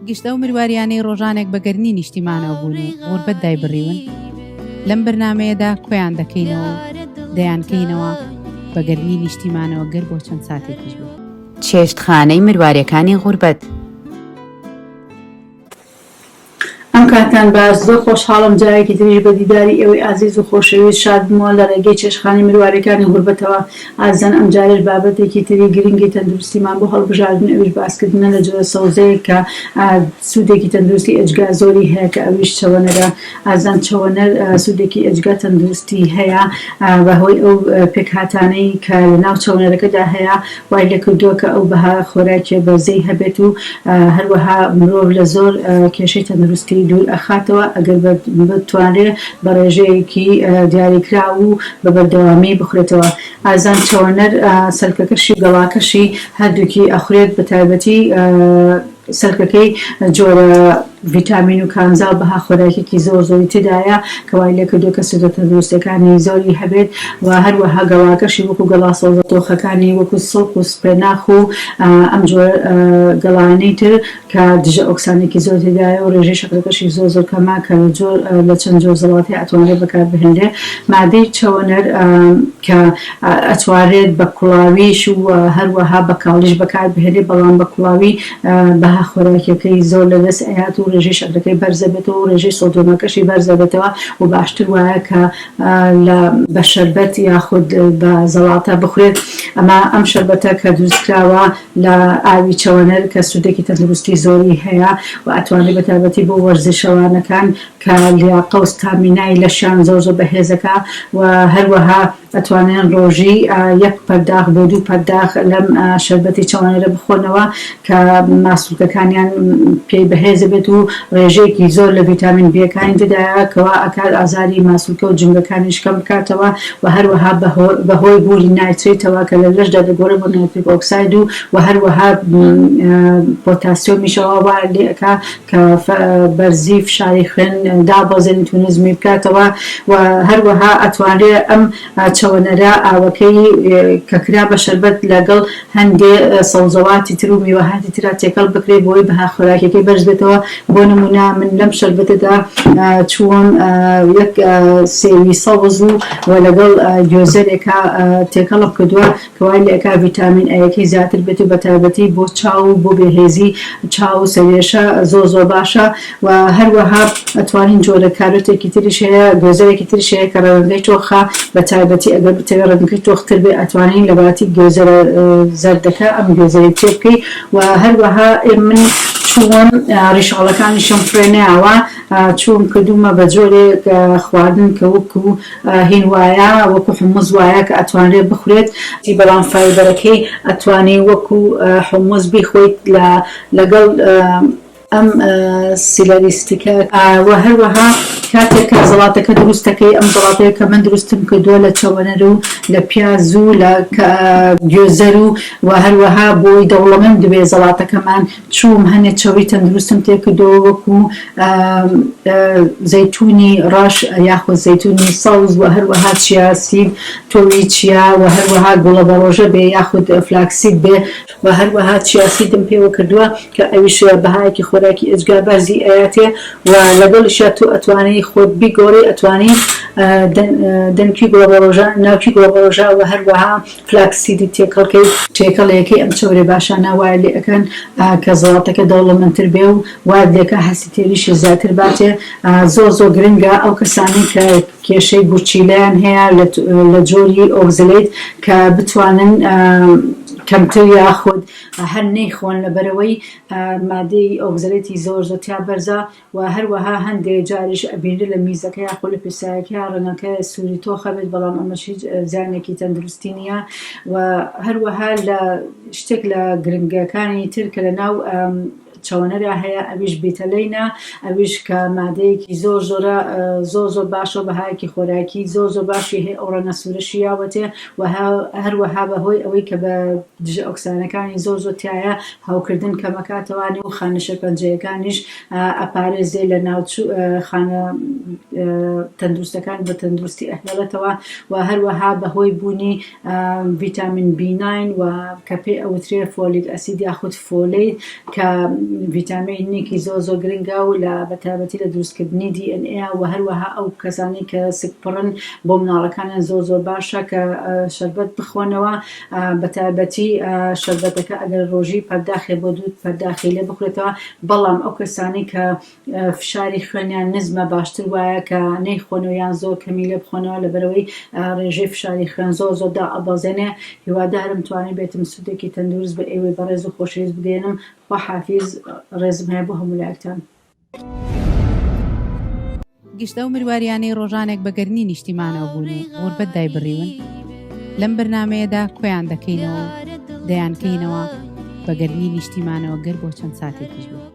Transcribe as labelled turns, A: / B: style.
A: گشت ئەو مرواریانەی ڕۆژانێک بە گەرنی نیشتیمانەوە بوون و غوربەت دایبڕیون لەم بەرنمەیەدا کۆیان دەکەینەوە دەیانکەینەوە بە گەرنی نیشتیمانەوە گەر بۆ چەند ساتێکیش بێت چێشتخانەی
B: مرواریەکانی غوربەت.
C: ئەم کاتەم باش زۆر خۆشحاڵم جارێکی تریش بە دیداری ئێوەی ئازیز و خۆشەویست شاد بمەوە لە ڕێگەی چێشتخانەی مرواریەکانی غوربەتەوە ئازیزان ئەم جارەش بابەتێکی تری گرنگی تەندروستیمان بۆ هەڵبژاردن ئەویش باسکردنە لە جۆرە سەوزەیەک کە سودێکی تەندروستی ئێجگار زۆری هەیە کە ئەویش چەوەنەگە ئازان چەوەنەر سوودێکی ئێجگار تەندروستی هەیە، بەهۆی ئەو پێکهاتانەی کە لەناو چەوەنەرەکەدا هەیە وای لێکردووە کە ئەو بەها خۆراکیە بەرزەی هەبێت و هەروەها مرۆڤ لە زۆر کێشەی تەندروستی دوور ئەخاتەوە ئەگەر بتوانرێ بە ڕێژەیەکی دیاریکراو و بە بەردەوامی بخورێتەوە ئازان چەوەنەر سەلکەکەشی و گەڵاکەشی هەردووکی ئەخورێت بەتایبەتی سەرکەکەی جۆرە ڤیتامین و کانزا و بەها خۆراکیەکی زۆر زۆری تێدایە کە وای لێکردووە کە سوودە تەندروستیەکانی زۆری هەبێت و هەروەها گەڵاکەشی وەکو گەڵا سەوزە تۆخەکانی وەکو سڵق و سپێناخ و ئەم جۆرە گەڵایەنەی تر کە دژە ئۆکسانێکی زۆر تێدایە و رێژەی شەکرەکەشی زۆر زۆر کەمە کە لە چەند جۆر زەڵاتەیا ئەتوانرێت بەکاربهێنرێت مادەی چەوەنەر کە ئەتوانرێت بە کوڵاویش و هەروەها بە کاڵیش بەکاربهێنرێت، بەڵام بە کوڵاوی بەها خۆراکیەکەی زۆر لەدەست ئەیات و رێژەی شەکرەکەی بەرز ئەبێتەوە و رێژەی سۆدیۆمەکەشی بەرز ئەبێتەوە و باشتر وایە کە لە بە شەربەت یاخود بە زەڵاتە بخورێت، ئەمە ئەم شەربەتە کە دروستکراوە لە ئاوی چەوەنەر کە سوودێکی تەندروستی زۆری هەیە و ئەتوانرێت بە تایبەتی بۆ وەرزشەوانەکان کە لیاقە و ستامینای لەشیان زۆر زۆر بەهێزەکە و هەروەها ئەتوانن ڕۆژی یەک پەرداخ بۆ دوو پەرداخ لەم شەربەتی چەوانەرە بخۆنەوە کە ماسولکەکانیان پێی بەهێز بێت و ڕێژەیەکی زۆر لە ڤیتامین بیەکانی تێدایە کەوا ئەکات ئازاری ماسولکە و جومگەکانیش کەم بکاتەوە و هەروەها بەهۆی بوونی نایترەیتەوە کە لە لەشدا دەگۆرێت بۆ نایتریک ئۆکساید و هەروەها پۆتاسیۆمیشەوە وا لێ ئەکا کە بەرزی فشاری خوێن دابەزێنیت و نزمی بکاتەوە و هەروەها ئەتوانرێت ئەم چەوەنەرە ئاوەکەی کە کرا بە شەربەت لەگەڵ هەندێ سەوزەواتی تر و میوەهاتی ترا تێکەڵ بکرێت بۆی بەها خۆراکیەکەی بەرز بێتەوە بۆ نمونە من لەم شەربەتەدا چووم یەک سێوی سەوز و لەگەڵ گوێزەرێکا تێکەڵم کردوە کە وای لێ ئەکا ڤیتامین ئەیەکەی زیاتر بێت و بە تایبەتی بۆ چاو و بۆ بێهێزی چاو و سەرێشە زۆر زۆر باشە و هەروەها ئەتوانین جۆرە کارۆتێکی تریش هەیە گوێزەرێکی تریش هەیە کە ڕەوێنگەی تۆخە بە تایبەتی ئەگەر بتەوێ ڕەنگەکەی تۆختر بێ ئەتوانین لە باتی گوێزەرە زەردەکە ئەم گوێزەرەی تێ بکەی و هەروەها من چووم ڕیشاڵەکانیشم فرێ نەیاوە چووم کردوومە بە جۆرێک خواردن کە وەکوو هین وایە وەکو حموز وایە کە ئەتوانرێت بخورێت. بەڵام فایبەرەکەی ئەتوانی وەکو حموز بیخۆیت لە لەگەڵ ئەم سیلەری ستیکە. وە هەروەها کاتێک کە زەڵاتەکە دروست دەکەی ئەم زەڵاتەیە کە من دروستم کردووە لە چەوەنەر و لە پیاز و لە گوێزەر و وە هەروەها بۆی دەوڵەمەند بێ زەڵاتەکەمان چووم هەنێ چەوری تەندروستم تێکردەوە وەکو زەیتونی ڕەش یاخود زەیتونی سەوز وە هەروەها چیا سید تۆوی چیا وە هەروەها گوڵە بەڕۆژە بێ یاخود فلاکسید بێ وە هەروەها چیا سیدم پێوە کردوە کە ئەویش بەهایەکی خۆراکی ئێجگار بەرزی ئەیاتێ و لەگەڵیشا تۆ ئەتوانی خۆت بیگۆڕی ئەتوانی دەنکی گوڵە بەڕۆژە ناوکی گوڵە بەڕۆژە وە هەروەها فلاکس سیدی تێکەڵکەی. تێکەڵیەکەی ئەم چەورە باشانە وایە لێ ئەکەن کە زەڵاتەکە دەوڵەمەند تر بێ و وایت لێ ئەکا هەستی تێریشی زیاتر باتێ زۆر زۆر گرنگە ئەو کەسانەی کە کێشەی گورچیلەیان هەیە لە جۆری ئۆکزلەیت کە بتوانن کەمتر یاخود هەر نەیخۆن لەبەرئەوەی مادەی ئۆکزلەیتی زۆر زۆر تیا بەرزە وە هەروەها هەندێ جاریش ئەبینرێ لە میزەکە یاخۆ لە پیسایەکە ڕەنگەکە سوری تۆخ ئەبێت بەڵام ئەمەش هیچ زیانێکی تەندروستی نییە وە هەروەها لە شتێک لە گرنگەکانی تر کە لە ناو چەوەنەرا هەیە ئەویش بیتەلەینە ئەویش کە مادەیەکی زۆر زۆرە زۆر زۆر باشە و بەهایەکی خۆراکی زۆر زۆر باشی هەیە ئەو ڕەنگە سوورەشی یاوەتێ و هەروەها بەهۆی ئەوەی کە بە دژە ئۆکسانەکانی زۆر زۆر تایە هەوکردن کەمەکاتەوانێ و خانە شێرپەنجەیەکانیش ئەپارێزێ لە ناوچو خانە تەندروستەکان بە تەندروستی ئەهێڵێتەوە و هەروەها بەهۆی بوونی ڤیتامین بیناین و کە پێ ئەوترێ فۆلیک ئەسید یاخود فۆلی کە ڤیتامینێکی زۆ زۆ گرنگە و لە بەتابەتی لە دروستکردنی دی ئێن ئێ و هەروەها ئەو کەسانی کە سک پڕن بۆ مناڵەکانیان زۆ زۆ باشە کە شەربەت بخۆنەوە بەتایبەتی شەربەتەکە ئەگەر ڕۆژی پەرداخێ بۆ دوو پەرداخی لێ بخورێتەوە، بەڵام ئەو کەسانەی کە فشاری خوێنیان نزمە باشتر وایە کە نەیخۆنەوە یان زۆر کەمی لێ بخۆنەوە لەبەرئەوەی ڕێژەی فشاری خوێن زۆر زۆر دائەبەزێنێ، هیوادارم توانیبێتم سوودێکی تەندروست بە ئێوەی بەڕێز و خۆشەویست بگەیەنم، خواحافیز، ڕێزم هەیە بۆ هەموو لایەکتان.
A: گشت ئەو مرواریانەی ڕۆژانێک بە گەرمی نیشتیمانەوە بوون و غوربەت دایبڕیون لەم بەرنمەیەدا کۆیان دەکەینەوە و دەیانکەینەوە بە گەرمی نیشتیمانەوە گەر بۆ چەند ساتێکیش بێت.